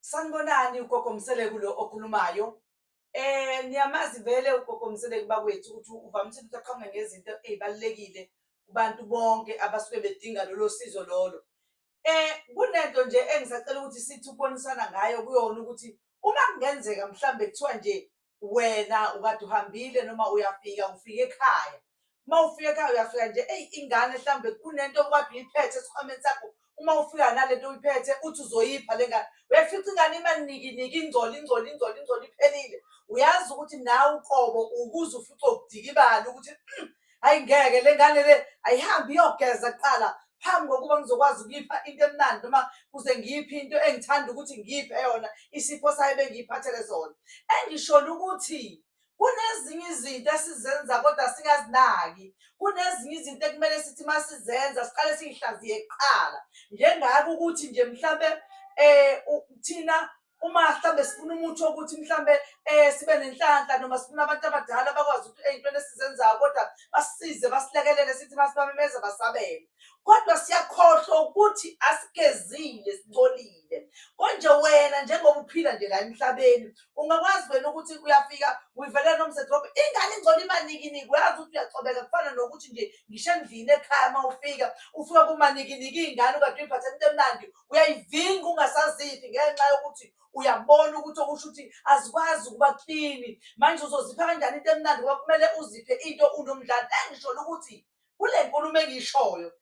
sanibonani ugogo mseleku lo okhulumayo eh niyamazi vele ugogo mseleku bakwethu ukuthi uvamise ukuthi aqhamuke ngezinto ezibalekile kubantu bonke abasuke bedinga lolo sizo lolo eh kunento nje engisacela ukuthi sithi ukubonisana ngayo kuyona ukuthi uma kungenzeka mhlambe kuthiwa nje wena ukade uhambile noma uyafika ufike ekhaya uma ufika ekhaya uyafika nje eyi ingane mhlawumbe kunento okade uyiphethe esikhwameni sakho uma ufika nalento uyiphethe uthi uzoyipha le ngane uyafica ingane imanikiniki ingcoli ingcoli ingcoli ingcoli iphelile uyazi ukuthi nawe uqobo ukuze ufice ukudikibala ukuthi hmm, hayi ngeke le ngane le ayihambe iyogeza kuqala phambi kokuba ngizokwazi ukuyipha into emnandi noma kuze ngiyiphe into engithanda ukuthi ngiyiphe yona isipho sayo bengiyiphathele zona engisholo ukuthi kunezinye izinto esizenza kodwa singazinaki kunezinye izinto ekumele sithi uma sizenza siqale siyihlaziye kuqala njengako ukuthi nje mhlawumbe um thina uma mhlawumbe sifuna umuthi wokuthi mhlawumbe um sibe nenhlanhla noma sifuna abantu abadala bakwazi ukuthi ey'ntweni esizenzayo kodwa basisize basilekelele sithi masibamemeza basabele kodwa siyakhohlwa ukuthi asigezile sicolile konje wena njengoba uphila nje la emhlabeni ungakwazi wena ukuthi uyafika uyivelela nomsethrop ingane ingcono imanikiniki uyazi ukuthi uyacobeka kufana nokuthi nje ngisho endlini ekhaya uma ufika ufika kumanikiniki iy'ngane ukade uyiphathe into emnandi uyayivinga ungasaziphi ngenxa yokuthi uyabona ukuthi okusho ukuthi azikwazi ukuba klini manje uzozipha kanjani into emnandi ngoba kumele uziphe into unomdlalo engisholo ukuthi kule nkulumo engiyishoyo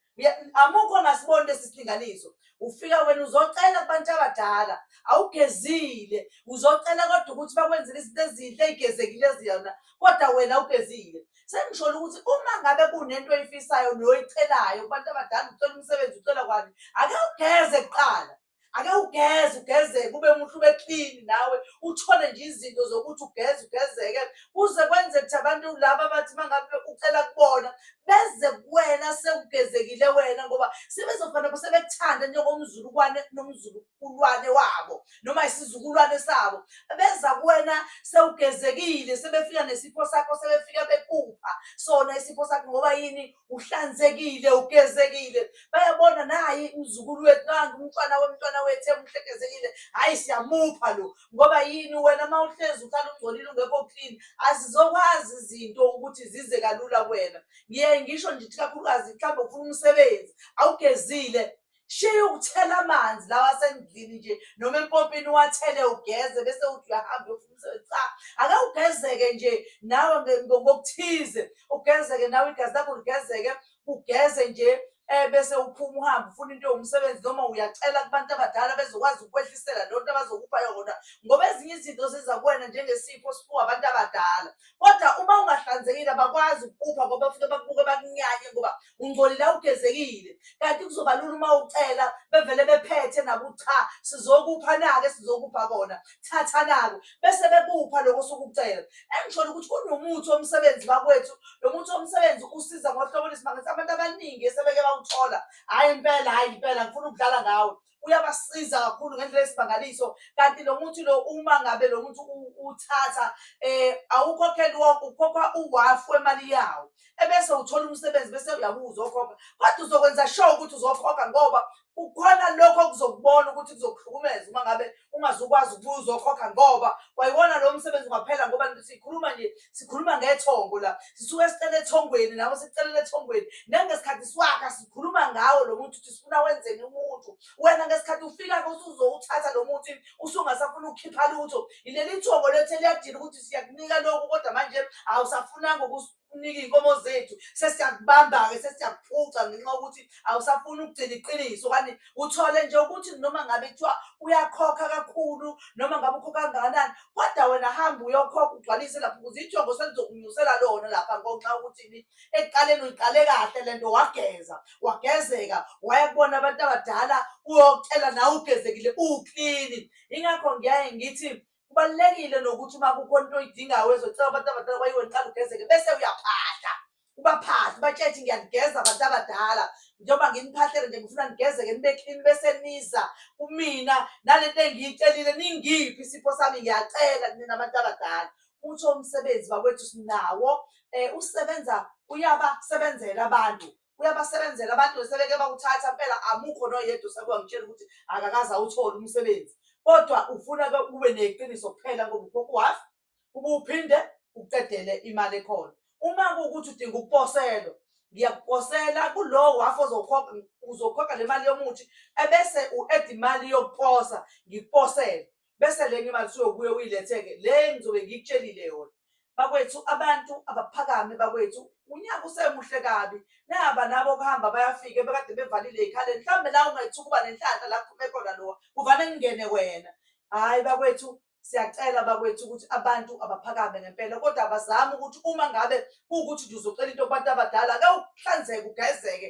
amukho ongasiboni lesi silinganiso ufika wena uzocela kubantu abadala awugezile uzocela kodwa ukuthi bakwenzele izinto ezinhle ey'gezekile ziyona kodwa wena awugezile Sengisholo ukuthi uma ngabe kunento oyifisayo noyicelayo kubantu abadala ucela umsebenzi ucela kwani ake ugeze kuqala ake ugeze ugeze kube muhle ube clean nawe uthole nje izinto zokuthi ugeze ugezeke kuze kwenzeke ukuthi abantu laba abathi mangabe ucela kubona beze kuwena sewugezekile wena ngoba sebezofana sebekuthanda njengomzulukwane nomzulukwane ulwane wabo noma isizukulwane sabo beza kuwena sewugezekile sebefika nesipho sakho sebefika bekupha sona isipho sakho ngoba yini uhlanzekile ugezekile bayabona nayi umzukulu wethu nangu umntwana womntwana wethu emuhlekezekile hhayi siyamupha lo ngoba yini wena uma uhlezi uhlala ungcolile ungekho clean azizokwazi izinto ukuthi zize kalula kuwena ngiye ngisho ngithi kakhulukazi mhlawumbe ufuna umsebenzi awugezile shiya ukuthela amanzi lawa asendlini nje noma empompini uwathele ugeze bese uthi uyahamba uyofuna umsebenzi cha ake ugezeke nje nawe ngokuthize ugezeke nawe igazi lakho ligezeke ugeze nje eh bese uphuma uhamba ufuna into yomsebenzi noma uyacela kubantu abadala bezokwazi ukwehlisela lento abazokupha yona ngoba ezinye izinto ziza kuwena njengesipho siphiwa abantu abadala kodwa uma ungahlanzekile abakwazi ukupha ngoba futhi bakubuke bakunyanye ngoba ungcolile awugezekile kanti kuzoba lula uma ucela bevele bephethe naku cha sizokupha nake sizokupha kona thatha nako bese bekupha lokho sokucela engishona ukuthi kunomuthi omsebenzi bakwethu lo muthi omsebenzi usiza ngohlobo lwesimangisi abantu abaningi esebeke bawuthola hhayi impela hhayi impela ngifuna ukudlala ngawe uyabasiza kakhulu ngendlela esimangaliso kanti lo muthi lo uma ngabe lo muthi uthatha um awukhokheli wonke ukhokha uwafu wemali yawo ebese uthola umsebenzi bese uyabuu uzokhokha kodwa uzokwenza sure ukuthi uzokhokha ngoba kukhona lokho okuzokubona ukuthi kuzokuhlukumeza uma ngabe ungazukwazi ukuba uzokhokha ngoba wayiwona lo msebenzi ungaphela ngoba sikhuluma nje sikhuluma ngethongo la sisuke sicela ethongweni lapho sicelela ethongweni nangesikhathi siwakha sikhuluma ngawo lo muntu ukuthi sifuna wenzeni umuntu wena ngesikhathi ufika usuzowuthatha lo muntu usungasafuna ukukhipha lutho yileli thongo lethe liyadila ukuthi siyakunika lokhu kodwa manje awusafunanga ukuthi ukunike iy'nkomo zethu sesiyakubamba-ke sesiyakuphuca ngenxa yokuthi awusafuni ukugcina iqiniso kanti uthole nje ukuthi noma ngabe kuthiwa uyakhokha kakhulu noma ngabe ukhokha kangakanani kodwa wena hambe uyokhokha ugcwalise lapho ukuze ijongo selizokunyusela lona lapha ngonxa yokuthini ekuqaleni uyiqale kahle le nto wageza wagezeka waya kubona abantu abadala uyokutshela nawe ugezekile uwuklini yingakho ngiyaye ngithi kubalulekile nokuthi uma kukhona into oyidingayo wezocela abantu abadala kwayiwe niqala ugezeke bese uyaphahla ubaphahle ubatshele ukuthi ngiyanigeza abantu abadala njengoba nginiphahlele nje ngifuna nigezeke nibe clean bese niza kumina nale nto engiyicelile ningiphi isipho sami ngiyacela nina abantu abadala uthi umsebenzi bakwethu sinawo um usebenza uyabasebenzela abantu uyabasebenzela abantu sebeke bakuthatha mpela amukho noyedwa sekuba ngitshela ukuthi akakaze awuthole umsebenzi kodwa ufuna ke ube neqiniso kuphela ngoba ukhokha uhafu ube uphinde uqedele imali ekhona uma kuwukuthi udinga ukuposelwa ngiyakuposela kulowo wafu ozokhokha uzokhokha le mali yomuthi ebese u-eda imali yokuposa ngikuposele bese lenye imali usuyobuye uyilethe-ke le engizobe ngikutshelile yona bakwethu abantu abaphakame bakwethu unyaka usemuhle kabi naba nabo kuhamba bayafike bekade bevalile ikhale mhlawumbe la ungethu ukuba nenhlanhla la kuphume khona lowa kuvane kungene wena hhayi bakwethu siyacela bakwethu ukuthi abantu abaphakame ngempela kodwa abazame ukuthi uma ngabe kuwukuthi nje uzocela into kubantu abadala ke uhlanzeke ugezeke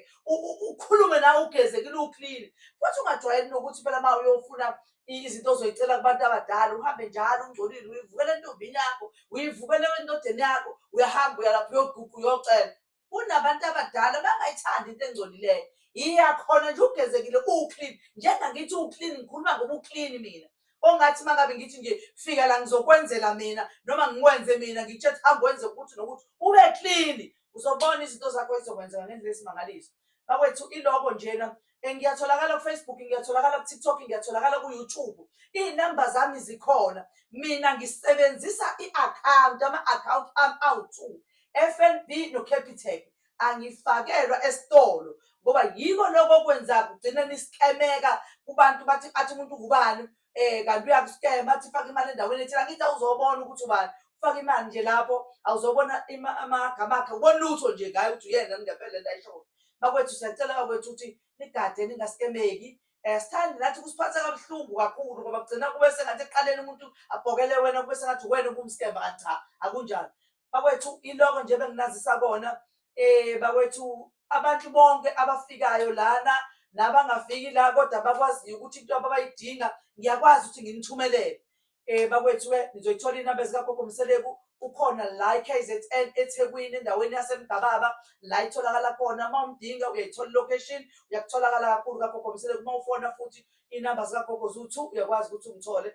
ukhulume nawe ugezekile uklini futhi ungajwayeli nokuthi phela uma uyofuna izinto ozoyicela kubantu abadala uhambe njalo ungcolile uyivukela entombini yakho uyivukela endodeni yakho uyahamba uyalapha uyoguqa uyocela kunabantu abadala bangayithandi into engcolileyo iyakhona nje ugezekile uwuclean njengangithi uwuclean ngikhuluma ngoba uclean mina ongathi uma ngabe ngithi nje fika la ngizokwenzela mina noma ngikwenze mina ngitshe hambe wenze ukuthi nokuthi ube clean uzobona izinto zakho ezizokwenzeka ngendlela esimangaliso bakwethu iloko njena eh, ngiyatholakala kufacebook ngiyatholakala kutiktok ngiyatholakala kuyoutube iy'namba zami zikhona mina ngisebenzisa i-akhawunti ama-akhawunti ami awu-two f n b nocapitec angifakelwa esitolo ngoba yiko lokho okwenza kugcine nisikemeka kubantu bathi athi umuntu ngubani eh kanti uyakuskema athi faka imali endaweni ethile angithi awuzobona ukuthi ubani ufaka imali nje lapho awuzobona amagama akhe ubona lutho nje ngaye ukuthi uyena ngempela la ishoyo bakwethu siyacela bakwethu ukuthi nigade ningaskemeki um sithandi nathi kusiphatha kabuhlungu kakhulu ngoba kugcina kube sengathi ekuqaleni umuntu abhokele wena kube sengathi wena ubumskema kanti cha akunjalo bakwethu iloko nje benginazisa kona eh bakwethu abantu bonke abafikayo lana nabangafiki la kodwa bakwaziyo ukuthi into ababayidinga ngiyakwazi ukuthi nginithumelele eh bakwethu ke nizoyithola inamba zikagogo mseleku ukhona la i-KZN eThekwini endaweni yaseMgababa la itholakala khona uma umdinga uyayithola location uyakutholakala kakhulu kagogo mseleku uma ufona futhi inamba zikagogo zu-two uyakwazi ukuthi ungithole